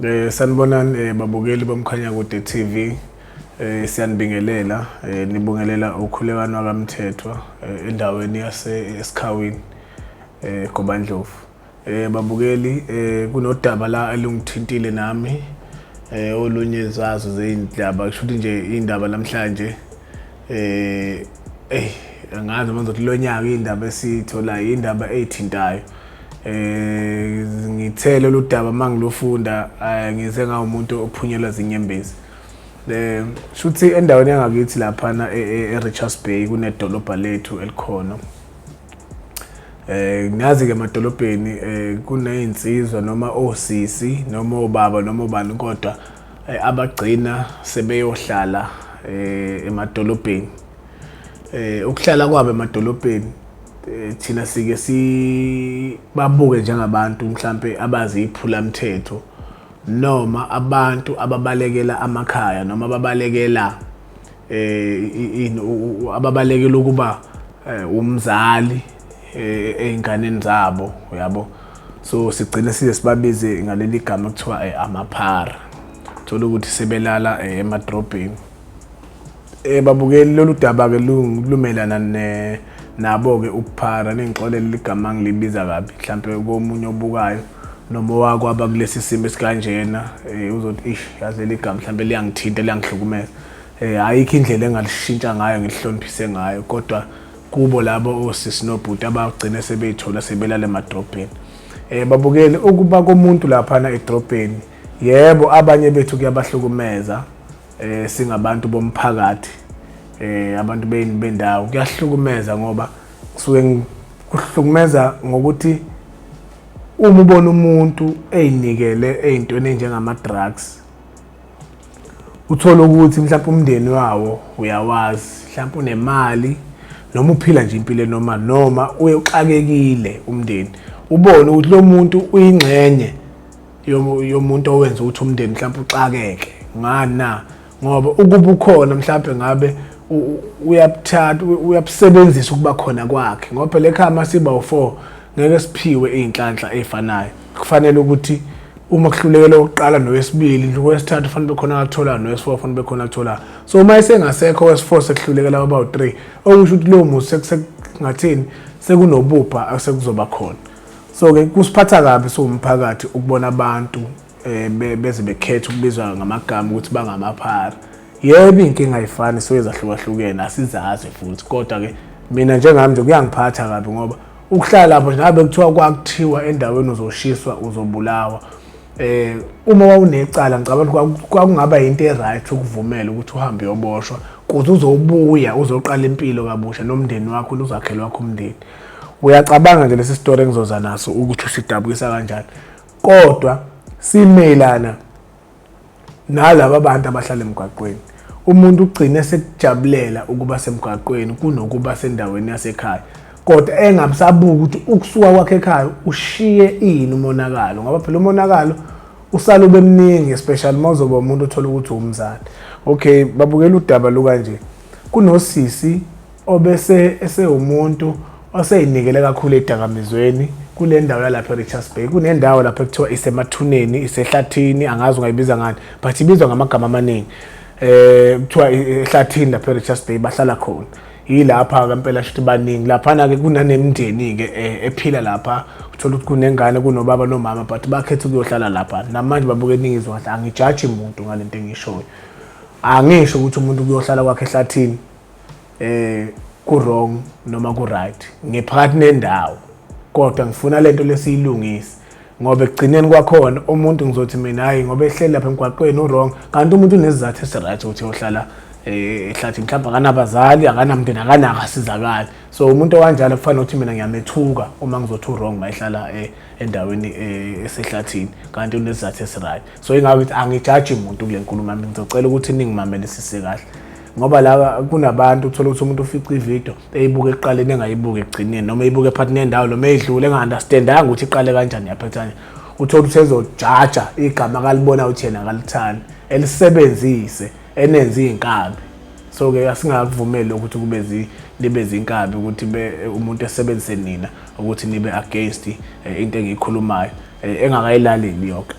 Eh sanibonani eh, babukeli bomkhanya kude TV eh siyanibingelela eh nibongelela ukhulekano kaMthethwa eh, endaweni yase esikhawini eh Gobandlovu eh babukeli eh kunodaba la elungithintile nami eh olunye zazo zeindaba kusho ukuthi nje indaba namhlanje eh ey angazi manje ukuthi lonyaka indaba esithola indaba eyithintayo eh ngithele oludaba mangilofunda eh, ngize ngawumuntu ophunyelwa zinyembezi eh shuthi endaweni yangakithi lapha na e, e, eRichards Bay kunedolobha lethu elikhona eh ngazi ke emadolobheni eh kunezinsizwa noma osisi noma obaba noma ubani kodwa eh, abagcina sebeyohlala eh, emadolobheni eh, ukuhlala kwabo emadolobheni eh, thina sike sibabuke njengabantu mhlampe abazi iphula mthetho noma abantu ababalekela amakhaya noma ababalekela eh ababalekela ukuba eh, umzali eh, einganeni zabo uyabo so sigcine size sibabize ngaleli gama kuthiwa eh, amaphara thola ukuthi sebelala emadrobheni eh babukeli lolu daba ke lumelana ne nabo ke ukuphara nengixolela igama ngilibiza kabi mhlambe komunye obukayo noma owakho aba kulesi simo esikanjena um uzothi ish yazi leli gama mhlawumbe liyangithinta liyangihlukumeza um ayikho indlela engalishintsha ngayo ngilihloniphise ngayo kodwa kubo labo osisi nobhuti abagcine sebeyithola sebelale emadrobheni um babukele ukuba komuntu laphana edrobheni yebo abanye bethu kuyabahlukumeza um singabantu bomphakathi um abantu bendawo kuyahlukumeza ngoba kusuke kuhlukumeza ngokuthi Uma ubona umuntu eyinikele ey'ntweni ey'njengama-drugs uthole ukuthi mhlawumpe umndeni wawo uyawazi mhlawumpe unemali noma uphila nje impilo enoma noma uye uxakekile umndeni ubone ukuthi lo muntu uyingxenye yomuntu owenza ukuthi umndeni mhlawumpe uxakeke ngani na ngoba ukuba ukhona mhlawumbe ngabe uyabuthatha uyabusebenzisa ukuba khona kwakhe ngoba phela ekhaya masiba u4 ngeke siphiwe izinhlanhla ezifanayo kufanele ukuthi uma kuhlulekela ukuqala nowesibili nowesithathu fanele bekhona akuthola nowes4 fanele bekhona akuthola so uma isengasekho wes4 sekuhlulekela baba u3 okusho ukuthi lowo muzi sekungathini sekunobubha asekuzoba khona so ke kusiphatha kabi siwumphakathi ukubona abantu eh, be- beze bekhetha ukubizwa ngamagama ukuthi bangamaphara yebo iy'nkinga ayifani so ezahlukahlukene asizazi futhi kodwa-ke mina njengami nje kuyangiphatha kabi ngoba ukuhlala lapho nje ngabe kuthiwa kwakuthiwa endaweni uzoshiswa uzobulawa eh uma wawunecala ngicabanga ukuthi kwaku- kwakungaba yinto e-right ukuvumela ukuthi uhambe uyoboshwa kuze uzobuya uzoqala impilo kabusha nomndeni wakho uzakhele wakho umndeni uyacabanga nje lesi story engizoza naso ukuthi usidabukisa kanjani kodwa simelana nalaba bantu abahlala emgwaqweni umuntu ugcine sekujabulela ukuba semgwaqweni kunokuba sendaweni yasekhaya kodwa engabusabuki ukuthi ukusuka kwakhe ekhaya ushiye ini umonakalo ngoba phela umonakalo usale ube mningi especially uma uzoba umuntu othola ukuthi umzali okay babukela udaba lukanje kunosisi obese esewumuntu oseyinikele kakhulu edakamizweni kule ndawo yalapha e-richards bay kunendawo lapho ekuthiwa isemathuneni isehlathini angazi ungayibiza ngani but ibizwa ngamagama amaningi um kuthiwa ehlathini lapha e-richards bay bahlala khona yilapha kampela shuthi baningi laphana-ke kunanemndeni-ke eh, ephila lapha uthola ukuthi kunengane kunobaba nomama but bakhetha ukuyohlala lapha namanje babuke eningiziwe kahle angijaji muntu ngale nto engishoyo angisho ukuthi umuntu kuyohlala kwakhe ehlathini eh ku wrong noma ku right ngiphakathi nendawo kodwa ngifuna lento lesiyilungise ngoba ekugcineni kwakhona umuntu ngizothi mina hayi ngoba ehleli lapha emgwaqweni urong kanti umuntu unezizathu esiright ukuthi yohlala eh, ehlathi mhlawumbe akanabazali akanamndeni akanaka asizakali so umuntu owanjalo kufanele ukuthi mina ngiyamethuka uma ngizothi urong uma ehlala eh, endaweni eh, esehlathini kanti unezizathu esiright so ingabe angijaji muntu kule nkulumo yami ngizocela ukuthi ningimamelisise kahle ngoba la kunabantu uthola ukuthi umuntu ufica ivideo eyibuka ekuqaleni engayibuki ekugcineni noma eyibuka ephathi nendawo noma eyidlule enga-understandanga ukuthi iqale kanjani yaphethane uthola ukuthi ezojaja igama kalibona ukuthi yena kalithandi elisebenzise enenze iy'nkabi so-ke asingakuvumeli lokhu ukuthi kube libe zinkabi ukuthi umuntu esebenzise nina ukuthi nibe against eh, into engiyikhulumayo eh, engakayilaleli yonke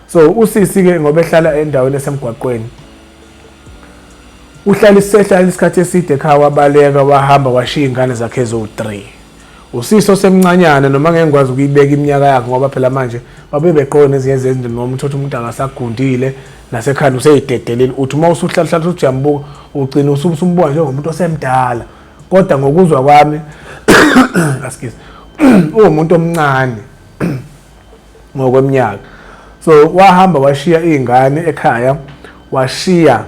so usisi-ke ngoba ehlala endaweni esemgwaqweni Uhlale isehlala isikhathi eside ekhaya wabaleka wahamba washiya ingane zakhe eziwu-3. Usisi osemncanyana noma ngeke ngikwazi ukuyibeka iminyaka yakhe ngoba phela manje babe beqoke nezinye zezinto noma uthothi umuntu akasagundile nasekhanda useyidedelile uthi uma usuhlalahlala uthi uyambuka ugcina usumbuka njengomuntu osemdala kodwa ngokuzwa kwami askies uwumuntu omncane ngokweminyaka so wahamba washiya izingane ekhaya washiya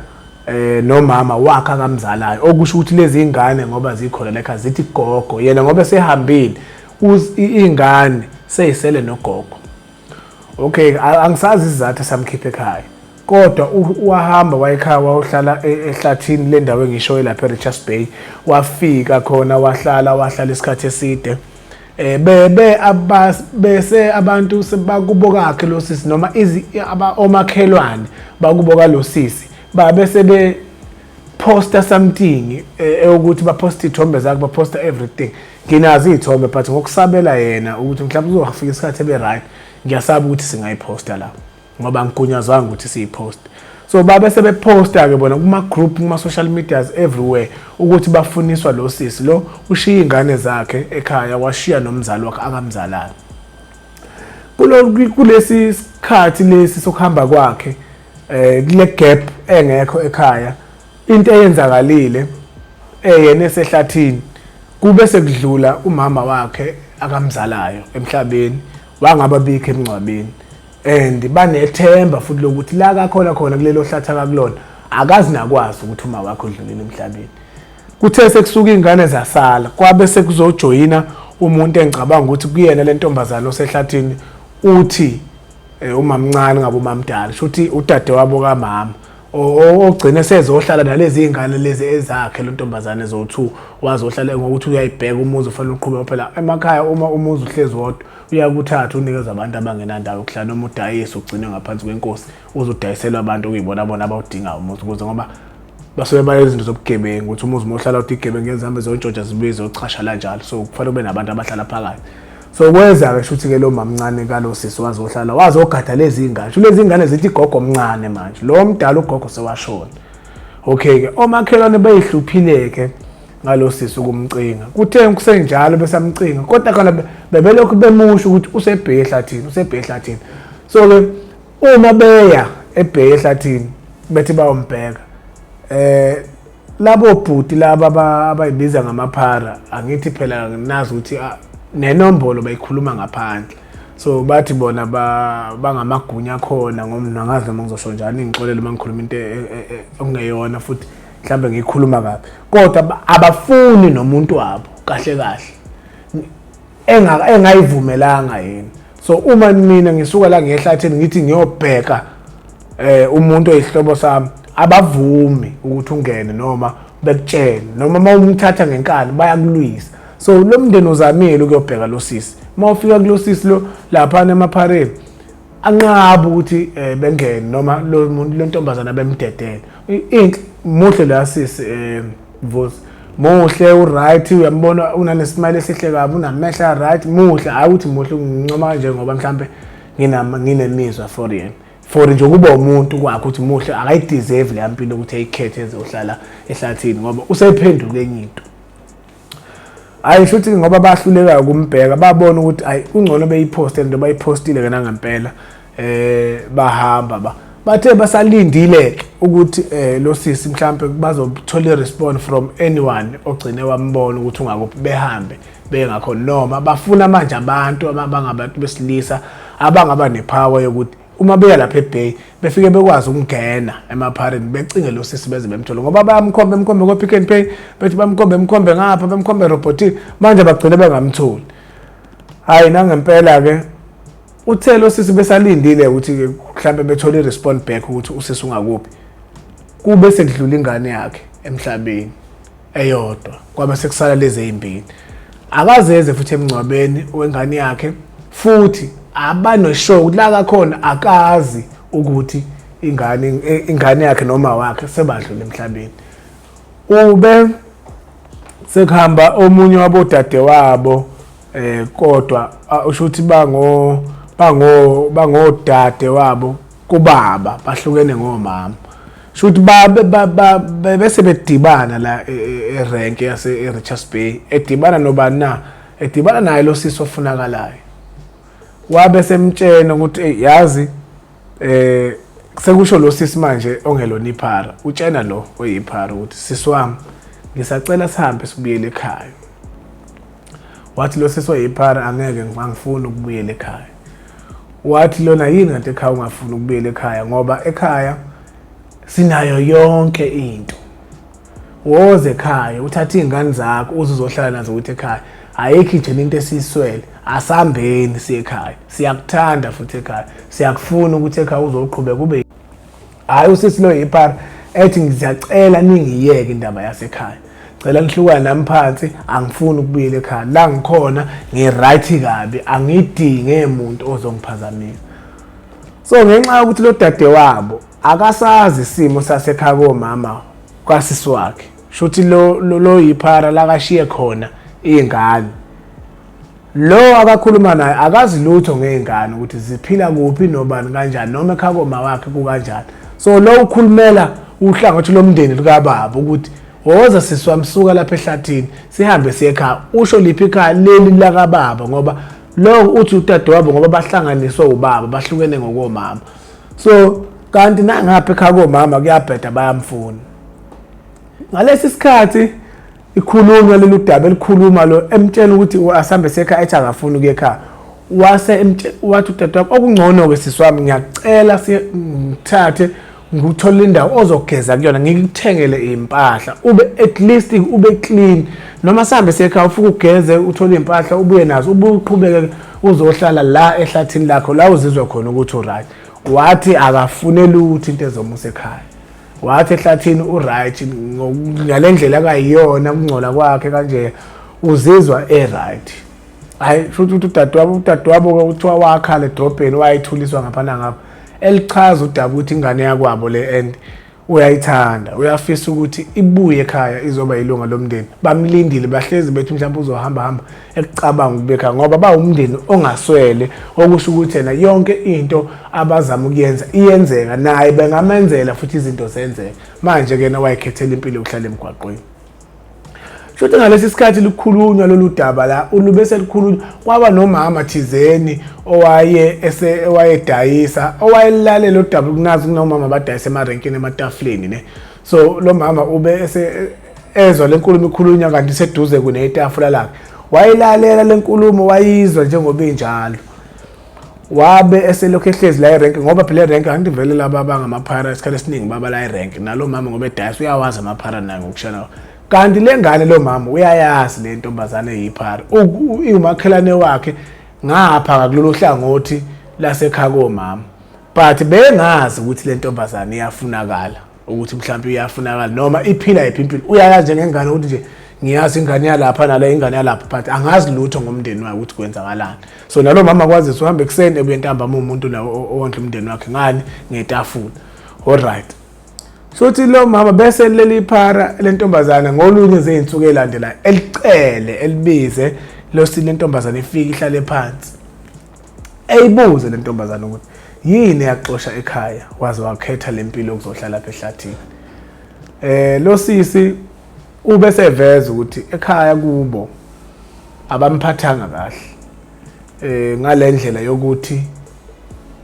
eh nomama wakhe akamzalayo okusho ukuthi lezi ingane ngoba zikhona lekha zithi gogo yena ngoba sehambile ingane seyisele nogogo okay angisazi izizathu samkhipha ekhaya kodwa wahamba wayekhaya wayohlala e, ehlathini lendawo engishoyo lapha eRichards Bay wafika khona wahlala wahlala isikhathi eside eh bebe abas bese abantu sebakubo kakhe lo sisi noma izi aba omakhelwane bakubo ka lo sisi ba bese be poster something eh, ukuthi ba post ithombe zakhe ba poster everything nginazi ithombe but ngokusabela yena ukuthi mhlawumbe uzofika isikhathi ebe right ngiyasaba ukuthi singayiposta lapho ngoba ngigunyazwanga ukuthi siyipost so babe sebeposta ke bona kuma group kuma social medias everywhere ukuthi bafuniswa lo sisi lo ushiya ingane zakhe ekhaya washiya nomzali wakhe akamzalana kulesi sikhathi lesi sokuhamba kwakhe eh kule gap engekho ekhaya into eyenzakalile eyena esehlathini kube sekudlula umama wakhe akamzalayo emhlabeni wangababikho emngcwabeni and banethemba futhi lokuthi la kakhona khona kulelo hlatha kakulona akazi nakwazi ukuthi uma wakho udlulile emhlabeni kuthe sekusuka ingane zasala kwabe sekuzojoyina umuntu engicabanga ukuthi kuyena le ntombazane osehlathini uthi eh, umamncane ngabe umamdala shuthi udade wabo kamama ogcine sezohlala nalezi ingane lezi ezakhe lo ntombazane ezowu-2 wazohlala ngokuthi uyayibheka umuzi ufanele uqhube phela emakhaya uma umuzi uhlezi wodwa uyakuthatha unikeza abantu abangenandawo yokuhlala noma udayise ugcine ngaphansi kwenkosi uze udayiselwe abantu okuyibona bona abawudingayo umuzi ukuze ngoba basuke banezinto zobugebengu ukuthi umuzi uma uhlala uthi igebengu ngezihambe zontshontsha zibuye zochasha la njalo so kufanele kube nabantu abahlala phakathi so kweza-ke shuthi ke lo mamncane kalo sisi wazohlala wazogada lezi ngane sho lezi ngane zithi igogo omncane manje lo mdala ugogo sewashona okay-ke omakhelwane beyihluphile-ke ngalo sisi ukumcinga kuthe kusenjalo besamcinga kodwa khona bebelokhu bemusho ukuthi usebheke ehlathini usebheke ehlathini so-ke uma beya ebheke ehlathini bethi bayombheka eh labo bhuti laba abayibiza ngamaphara angithi phela nginazi ukuthi ah, nenombolo bayikhuluma ngaphandle so bathi bona bangamagunya khona ngomntu angazi noma ngizosho njani ngixolele uma ngikhuluma into e, e, e, okungeyona futhi mhlambe ngikhuluma kabi kodwa abafuni nomuntu wabo kahle kahle enga engayivumelanga yini so uma mina ngisuka la ngehlathini ngithi ngiyobheka eh umuntu oyihlobo sami abavumi ukuthi ungene noma bekutshene noma uma umthatha ngenkani bayakulwisa so lo mndeni uzamile ukuyobheka lo sisi uma ufika kulo sisi lo laphana emaphareni anqaba ukuthi eh, bengene noma lo muntu lo ntombazana bemdedele inhle muhle la sisi eh, vusi muhle uright uyambona unanesimali esihle kabi unamehla right muhle hayi ukuthi muhle ngincoma kanje ngoba mhlambe nginama nginemizwa for yena for nje ukuba umuntu kwakhe ukuthi muhle akayideserve le mpilo ukuthi ayikhethe ezohlala ehlathini ngoba usephenduke enye into hayi shuthi ngoba bahluleka ukumbheka babona ukuthi hayi kungcono beyiphoste lento bayiphostile kana ngempela eh bahamba ba bathe basalindile ukuthi eh lo sisi mhlambe bazothola irespond from anyone ogcine wambona ukuthi ungakuphi behambe bengakho noma bafuna manje abantu abangabantu besilisa abangaba nepower yokuthi uma beya lapha eBay befike bekwazi ukungena emaphareni becinge lo sisi beze bemthole ngoba bayamkhomba emkhombe ko Pick and Pay bethi bamkhombe emkhombe ngapha bamkhombe robotin manje bagcine bengamtholi hayi nangempela ke uthe lo sisi besalindile ukuthi mhlambe bethole irespond back ukuthi usisi ungakuphi kube sekudlula ingane yakhe emhlabeni eyodwa kwabe sekusala lezi ezimbili akazeze futhi emngcwabeni wengane yakhe futhi abaneshow ukuthi la kakhona akazi ukuthi ingane ingane yakhe noma wakhe sebadlule emhlabeni ube sekuhamba omunye wabodade wabo eh kodwa usho ukuthi bango bango bangodade wabo kubaba bahlukene ngomama shuthi babe bese bedibana la e, e, erank yase eRichards Bay edibana nobani na edibana naye lo sisi ofunakalayo wabe semtshena ukuthi hey yazi eh sekusho lo sisi manje ongelona iphara utshena lo oyiphara ukuthi sisi wami ngisacela sihambe sibuyele ekhaya wathi lo sisi oyiphara angeke angifuni ukubuyela ekhaya wathi lona yini kanti ekhaya ungafuni ukubuyela ekhaya ngoba ekhaya sinayo yonke into woze ekhaya uthathe iy'ngane zakho uze uzohlala nazo ukuthi ekhaya ayikho ijena into esiyiswele asambeni siye ekhaya siyakuthanda futhi ekhaya siyakufuna ukuthi ekhaya uzoqhubeka ube hayi usisi lo yipara ethi ngiziyacela ningiyeke indaba yasekhaya cela nihlukane nami phansi angifuni ukubuyela ekhaya la ngikhona ngiright kabi angidinge muntu ozongiphazamisa so ngenxa yokuthi lo dade wabo akasazi isimo sasekhaya komama kwasisi wakhe shuthi lo lo yiphara lakashiye khona ingane Lo akakhuluma naye akazi lutho ngezingane ukuthi ziphila kuphi nobani kanjani noma ekhako mawakhe kukanjani. So lo ukhulumela uhlangothi lomndeni likababa ukuthi woza sisi wami suka lapha ehlathini sihambe siye ekhaya usho liphi ikhaya leli lakababa ngoba lo uthi udadewabo ngoba bahlanganiswe ubaba bahlukene ngokomama so kanti nangapha ekhaya komama kuyabheda bayamfuna ngalesi sikhathi ikhulunywa leli udaba elikhuluma lo emtshela ukuthi asambe sekhaya ethi akafuni ukuya ekhaya wase wathi udadewabo okungcono-ke sisi wami ngiyacela ngithathe ngikuthole indawo ozogeza kuyona ngikuthengele iy'mpahla ube at least ube clean noma sihambe sekhaya ufuke ugeze uthole iy'mpahla ubuye nazo ubuye uqhubeke uzohlala la ehlathini lakho la uzizwe khona ukuthi uright wathi akafune lutho into ezomusa ekhaya wathi ehlathini uright ngale ndlela akayiyona ukungcola kwakhe kanje uzizwa eright hayi futhi ukuthi udadewabo udadewabo kuthiwa wakhala edrobheni wayethuliswa ngapha nangapha elichaza udaba ukuthi ingane yakwabo le and uyayithanda uyafisa ukuthi ibuye ekhaya izoba yilunga lomndeni bamlindile bahlezi bethi mhlawumbe uzohamba hamba ekucabanga ukubeka ngoba bawumndeni ongaswele okusho ukuthi yena yonke into abazama ukuyenza iyenzeka naye bengamenzela futhi izinto zenzeka manje kena wayekhethela impilo yokuhlala emgwaqweni Shothi ngalesi sikhathi likhulunywa lolu daba la ulube selikhulunywa kwaba nomama thizeni owaye ese owayedayisa owayelalela udaba kunazi kunomama abadayisa emarenkini ematafuleni ne so lo mama ube ese ezwa lenkulumo ikhulunywa kanti seduze kunetafula lakhe wayilalela lenkulumo wayizwa njengoba injalo wabe eselokhu ehlezi la irank ngoba phela irank angithi vele laba abangamaphara isikhathi esiningi baba la irank nalo mama ngoba edayisa uyawazi amaphara naye ngokushana kanti le ngane lo mama uyayazi le ntombazane eyiphara iwumakhelane wakhe ngapha ngakulolu hlangothi lasekhaya komama but bengazi ukuthi le ntombazane iyafunakala ukuthi mhlawumbe iyafunakala noma iphila yiphi impilo uyayazi njengengane ukuthi nje ngiyazi ingane yalapha nale ingane yalapha but angazi lutho ngomndeni wakhe ukuthi kwenzakalani so nalo mama kwazisa uhamba ekuseni ebuye ntambama umuntu la owondla umndeni wakhe ngani ngetafula alright sothi lo mama bese leli phara lentombazana ngolunye zeinsuku elandela elicele elibize losile intombazana ifika ihlale phansi eyibuze le ntombazane ukuthi yini eyakuxosha ekhaya waze wakhetha le mpilo yokuzohlala lapha ehlathini eh lo sisi ube seveza ukuthi ekhaya kubo abamphathanga kahle eh ngalendlela yokuthi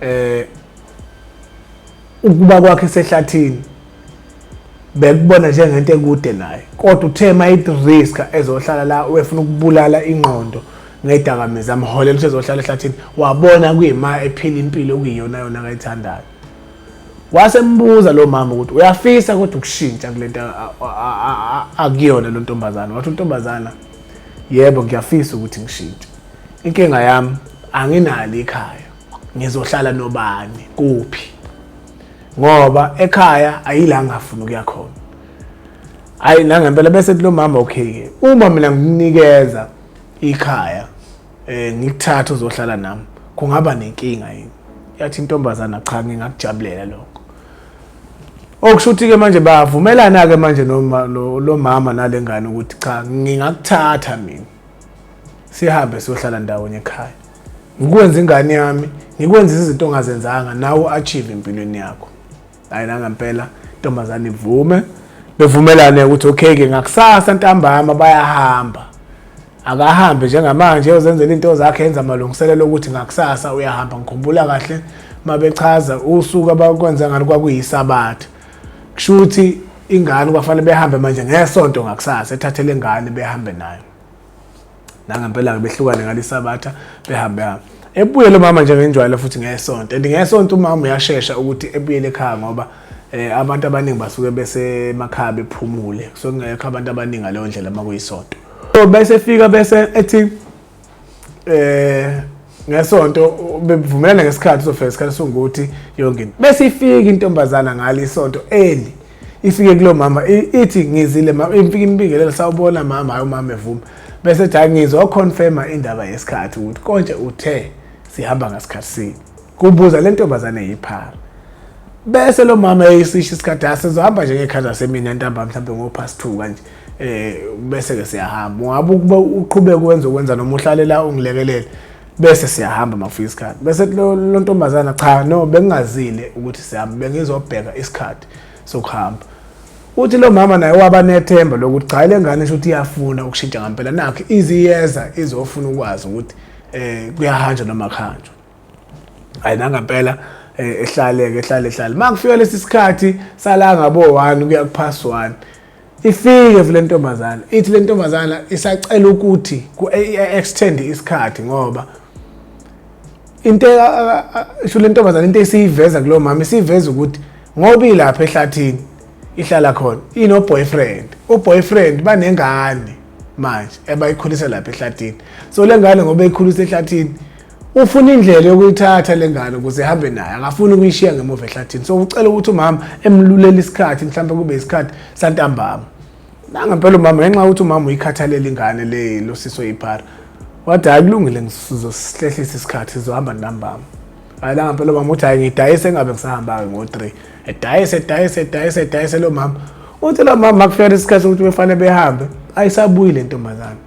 eh Ukuba kwakhe esehlathini bekubona njengento ekude naye kodwa uthe uma ithi risk ezohlala la wefuna ukubulala ingqondo ngedakamizwa amholela ukuthi ezohlala ehlathini wabona kuyima ephila impilo okuyiyona yona akayithandayo wasembuza lo mama ukuthi uyafisa kodwa ukushintsha kule nto akuyona lo ntombazana wathi untombazana yebo ngiyafisa ukuthi ngishintshe inkinga yami anginalo ikhaya ngizohlala nobani kuphi ngoba ekhaya ayila ngafuna ukuya khona hayi nangempela bese kulo mama okay ke uma mina ngikunikeza ikhaya eh ngikuthatha uzohlala nami kungaba nenkinga yini yathi intombazana cha ngingakujabulela lokho okushuthi ke manje bavumelana ke manje noma lo mama nalengane ukuthi cha ngingakuthatha mina sihambe siyohlala ndawonye ekhaya ngikwenza ingane yami ngikwenza izinto ongazenzanga nawe u-achieve empilweni yakho hayi nangempela intombazane ivume bevumelane ukuthi okay-ke ngakusasa ntambama bayahamba akahambe njengamanje uzenzela into zakhe enza amalungiselelo okuthi ngakusasa uyahamba ngikhumbula kahle mabechaza usuku abakwenza ngalo kwakuyisabatha kusho ukuthi ingane kwafanele behambe manje ngesonto ngakusasa ethathele ingane behambe nayo nangempela-ke behlukane ngalisabatha behambe hambe ebuyele umama nje ngenjwayelo futhi ngesonto and ngesonto umama uyashesha ukuthi ebuyele ekhaya ngoba eh abantu abaningi basuke besemakhaya bephumule kusuke kungekho abantu abaningi ngaleyo ndlela uma kuyisonto so bese fika bese ethi eh ngesonto bevumelana ngesikhathi uzofika isikhathi songukuthi yonke into bese ifika intombazana ngalo isonto eli ifike kulo mama ithi ngizile mama ifike imbingelela sawubona mama hayi umama evuma bese ethi ngizwa confirma indaba yesikhathi ukuthi konje uthe sihamba ngasikhathi sini kubuza le ntombazane yiphara bese lo mama eyisisho isikhathi asizohamba njengekhanda semina ntambama mhlawumbe ngo past 2 kanje eh bese ke siyahamba ungabe ukuba uqhubeke wenze ukwenza noma uhlale la ungilekelele bese siyahamba makufika isikhathi bese lo ntombazana cha no bengingazile ukuthi sihamba bengizobheka isikhathi sokuhamba uthi lo mama naye waba nethemba lokuthi cha le ngane sho ukuthi iyafuna ukushintsha ngampela nakho iziyeza izofuna ukwazi ukuthi eh kuyahanjwa noma kuhanjwa hayi nangampela eh, ehlaleke ehlale ehlale makufika lesi sikhathi sala ngabo 1 kuya ku pass 1 Ifike vele ntombazana ithi le ntombazana isacela ukuthi ku-extend isikhathi ngoba into isho le ntombazana into esiyiveza kulo mama isiveza ukuthi ngoba ilapha ehlathini ihlala khona ino boyfriend u boyfriend banengane manje ebayikhulisa lapha ehlathini so lengane ngoba ikhulisa ehlathini ufuna indlela yokuyithatha le ngane ukuze ihambe naye akafuni ukuyishiya ngemuva ehlathini so ucela ukuthi umama emlulele isikhathi mhlawumbe kube isikhathi santambama nangempela umama ngenxa yokuthi umama uyikhathalela ingane le lo siso yiphara wathi hayi kulungile ngizosihlehlisa isikhathi sizohamba ntambama hayi nangempela umama uthi hayi ngidayise engabe ngisahamba-ke ngo-three edayise edayise edayise edayise lo mama uthi lo mama makufika isikhathi sokuthi befanele behambe ayisabuyile ntombazane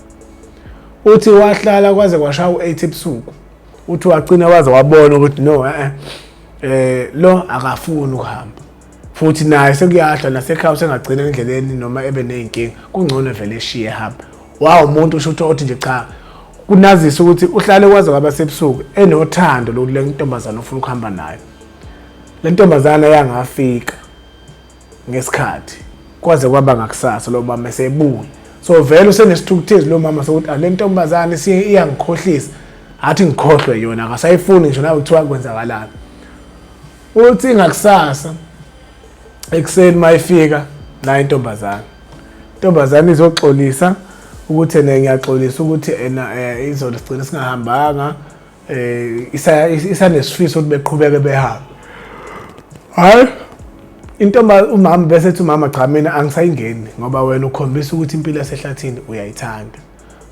uthi wahlala kwaze kwashaya u-8 ebusuku uthi wagcina waze wabona ukuthi no eh eh lo akafuni ukuhamba futhi naye sekuyahla nasekhaya sengagcina endleleni noma ebe nezinkinga kungcono vele eshiye hamba wawu umuntu usho ukuthi othi nje cha kunazisa ukuthi uhlale kwaze kwaba sebusuku enothando lokule ntombazane ofuna ukuhamba nayo le ntombazane yangafika ngesikhathi kwaze kwaba ngakusasa lo mama esebuya so vele usenesithukuthezi lo mama sokuthi ale ntombazane iyangikhohlisa athi ngikhohlwe yona akasayifuni ngisho nawe kuthiwa kwenzakalani uthi ngakusasa ekuseni mayifika la intombazane intombazane izoxolisa ukuthi ena ngiyaxolisa ukuthi ena eh, izoligcina singahambanga eh isa isanesifiso ukuthi beqhubeke behambe hayi intomba umama bese ethi umama cha mina angisayingeni ngoba wena ukhombisa ukuthi impilo yasehlathini uyayithanda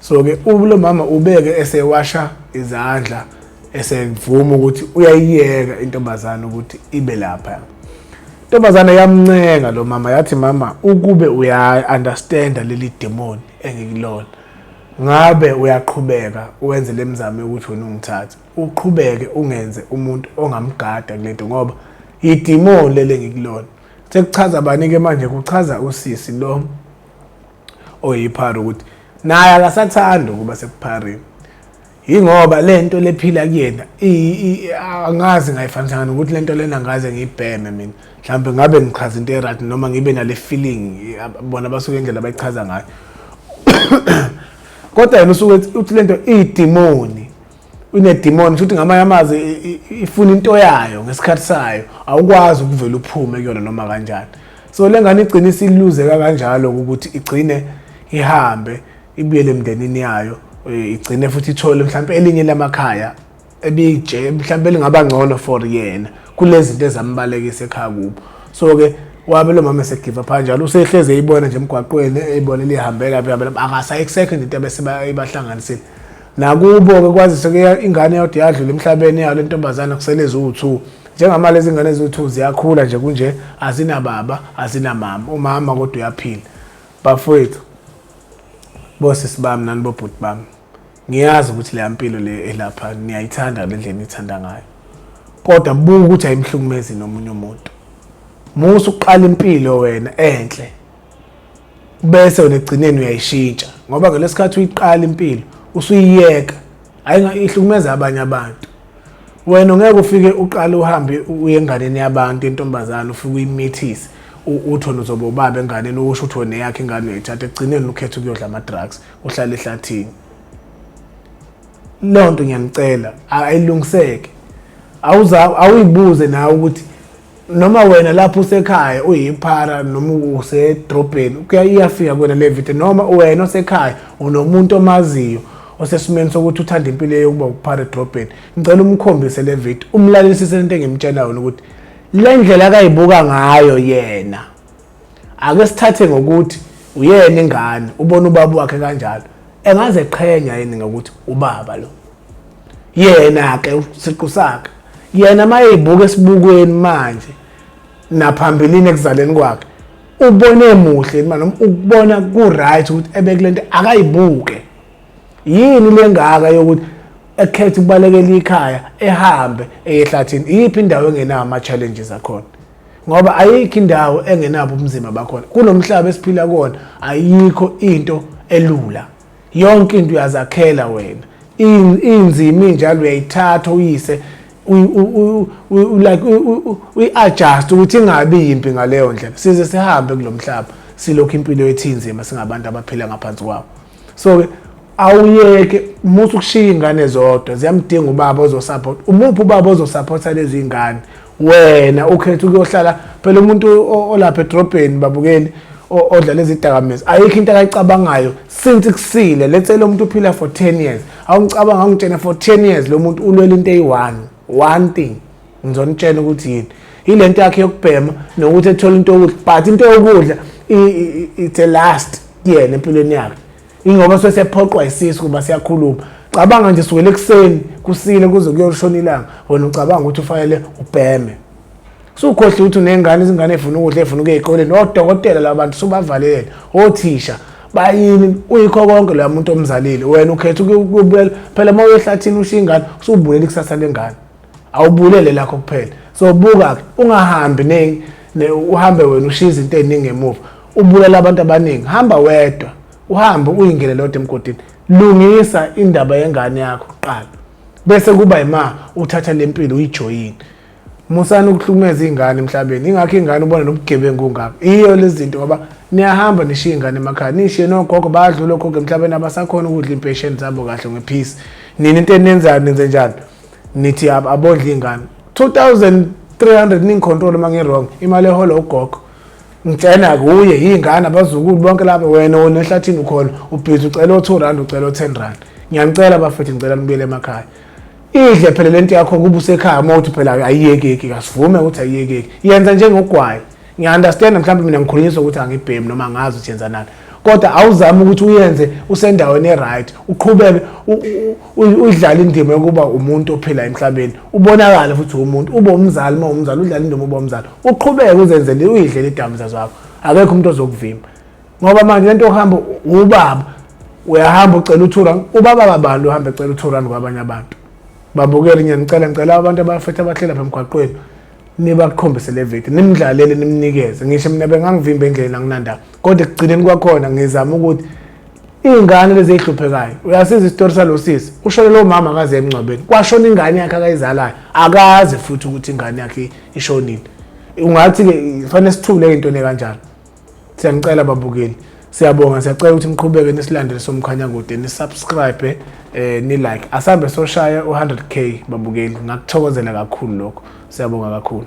so ke ulo mama ubeke esewasha izandla esevuma ukuthi uyayiyeka intombazana ukuthi ibe lapha intombazana yamncenga lo mama yathi mama ukube uya understand leli demon engikulona Ngabe uyaqhubeka wenze le mizamo yokuthi wena ungithathe, uqhubeke ungenze umuntu ongamgada kule nto ngoba yidimoni leli engikulona. Sekuchaza bani-ke manje? Kuchaza usisi lo oyiphara ukuthi naye akasathandi ukuba sekuphareni. yingoba le nto lephila kuyena angazi ngayifanisanga nokuthi le nto lena ngaze ngiyibheme mina mhlawumbe ngabe ngichaza into erat noma ngibe nale feeling bona basuke indlela abayichaza ngayo kodwa yena usuke uthi le nto iyidimoni unedimoni futhi ngamanye amazwi ifuna into yayo ngesikhathi sayo awukwazi ukuvela uphume kuyona noma kanjani so le ngane igcine isiluzeka kanjalo ukuthi igcine ihambe ibuyele emndenini yayo eh, igcine futhi ithole mhlawumbe elinye lamakhaya ebije mhlawumbe lingaba ngcono for yena kulezinto ezambalekisa ekhaya kubo so ke wabe lo mama esegiva pha njalo usehleze eyibona nje emgwaqweni eyibona lihambela phi phela akasayisekho into abese bayibahlanganisile nakubo ke kwazise ke ingane yodwa yadlula emhlabeni yalo intombazana kusele eziwu-2 njengamali lezi ngane eziwu-2 ziyakhula nje kunje azinababa azinamama umama kodwa uyaphila Bafowethu, bosisi bami nanibobhuti bami, ngiyazi ukuthi leya mpilo le elapha niyayithanda le ndlela niyithanda ngayo kodwa buka ukuthi ayimhlukumezi nomunye umuntu musa uqala impilo wena enhle bese wena egcineni uyayishintsha ngoba ngalesikhathi uyiqala impilo usuyiyeka hayi ihlukumeza abanye abantu wena ungeke ufike uqale uhambe uye enganeni yabantu intombazane ufike uyimithise utho nozoba ubaba enganeni usho ukuthi wena yakhe ingane uyithatha ekugcineni ukhetha ukuyodla ama-drugs uhlale ehlathini leyo nto ngiyanicela ayilungiseke awuyibuze nawe ukuthi noma wena lapho usekhaya uyiphara noma usedrobheni iyafika kwena le video noma wena osekhaya unomuntu omaziyo osesimeni sokuthi uthanda impilo yokuba ukuphara edrobheni ngicela umkhombise le video umlalelisise lento engimtshela yona ukuthi le ndlela akayibuka ngayo yena ake sithathe ngokuthi uyena ingane ubona ubaba wakhe kanjalo engaze qhenya yini ngokuthi ubaba lo yena ke usiqu sakhe yena mayeyibuka esibukweni manje naphambilini ekuzaleni kwakhe ubone muhle manje ukubona ku right ukuthi ebekulento akayibuke yini lengaka yokuthi ekhetha ukubalekela ikhaya ehambe eyehlathini iyiphi indawo engenawo ama-challenges akhona ngoba ayikho indawo engenabo ubunzima bakhona kunomhlaba esiphila kuwona ayikho into elula yonke into uyazakhela wena inzima injalo uyayithatha uyise like uyi-adjust ukuthi ingabi yimbi ngaleyo ndlela size sihambe kulo mhlaba silokhu impilo yethu inzima singabantu abaphila ngaphansi kwawo so-ke awuyeke musa ukushiya iy'ngane zodwa ziyamdinga ubaba ozosupport umuphi ubaba ozosupport-a lezi y'ngane wena ukhetha ukuyohlala phela umuntu olapha edrobheni babukeli odla lezi dakamizwa ayikho into akayicabangayo since kusile let's say lo muntu uphila for 10 years awungicabanga awungitshena for 10 years lo muntu ulwela into eyi-one one thing ngizonitshena ukuthi yini yile nto yakhe yokubhema nokuthi ethole into yokudla but into yokudla it's a last yena empilweni yakhe ingoba suke sephoqwa isisu kuba siyakhuluma cabanga nje sukele ekuseni kusile kuze kuyoshona ilanga wena ucabanga ukuthi ufanele ubheme sukhohle ukuthi unengane izingane efuna ukudla efuna ukuya ezikoleni odokotela labantu subavalele othisha bayini uyikho konke loya muntu omzalile wena ukhetha ukubuyela phela uma uyehlathini ushiya ingane usubulela ikusasa lengane awubulele lakho kuphela so buka ungahambi ne, ne uhambe wena ushiya izinto eziningi emuva ubulala abantu abaningi hamba wedwa uhambe uyingene lodwa emgodini lungisa indaba yengane yakho kuqala bese kuba yima uthatha lempilo uyijoyini musani ukuhlumeza ingane emhlabeni ingakho ingane ubona nobugebengu ngakho iyo lezinto ngoba niyahamba nishiya ingane emakhaya nishiye nogogo badlula ogogo emhlabeni abasakhona ukudla impesheni zabo kahle ngephisi nini into enenzayo nenze njalo nithi abondla iy'ngane 2300 ningicontrole uma ngirong imali ehola ugogo ngitshena kuye yingane abazukulu bonke laba wena wona ehlathini ukhona ubhizi ucela o-two rand ucela o-ten rand ngiyanicela bafethu ngicela nibuyele emakhaya idle phela le nto yakho kuba usekhaya uma uthi phela ayiyekeki kasivume ukuthi ayiyekeki yenza njengogwayi ngiya-understand mhlawumbe mina ngikhulunyiswa ukuthi angibhemi noma angazi ukuthi yenzanani kodwa awuzame ukuthi uyenze usendaweni e-right uqhubeke udlale indima yokuba umuntu ophila emhlabeni ubonakale futhi umuntu ube umzali uma umzali udlale indima uba umzali uqhubeke uzenzele uyidlele idakamizwa zakho akekho umuntu ozokuvimba ngoba manje lento ohamba ubaba uyahamba ucela uturan ubaba babani uhamba ecela uturan kwabanye abantu babukele ngiyanicela ngicela abantu abafethe abahlela pha emgwaqweni nibakhombise le video nimdlalele nimnikeze ngisho mina bengangivimba endleleni anginandaba kodwa ekugcineni kwakhona ngizama ukuthi iy'ngane lezi ey'hluphekayo uyasiza isitori salo sisi ushone lowo mama akaze emngcwabeni kwashona ingane yakhe akayizalayo akazi futhi ukuthi ingane yakhe ishonile ungathi-ke fanele sithule into le kanjalo siyanicela babukeli siyabonga siyacela ukuthi niqhubeke nisilandele somkhanya kude nisubscribe eh ni like asambe soshaya u100k babukeli ngakuthokozela kakhulu lokho siyabonga kakhulu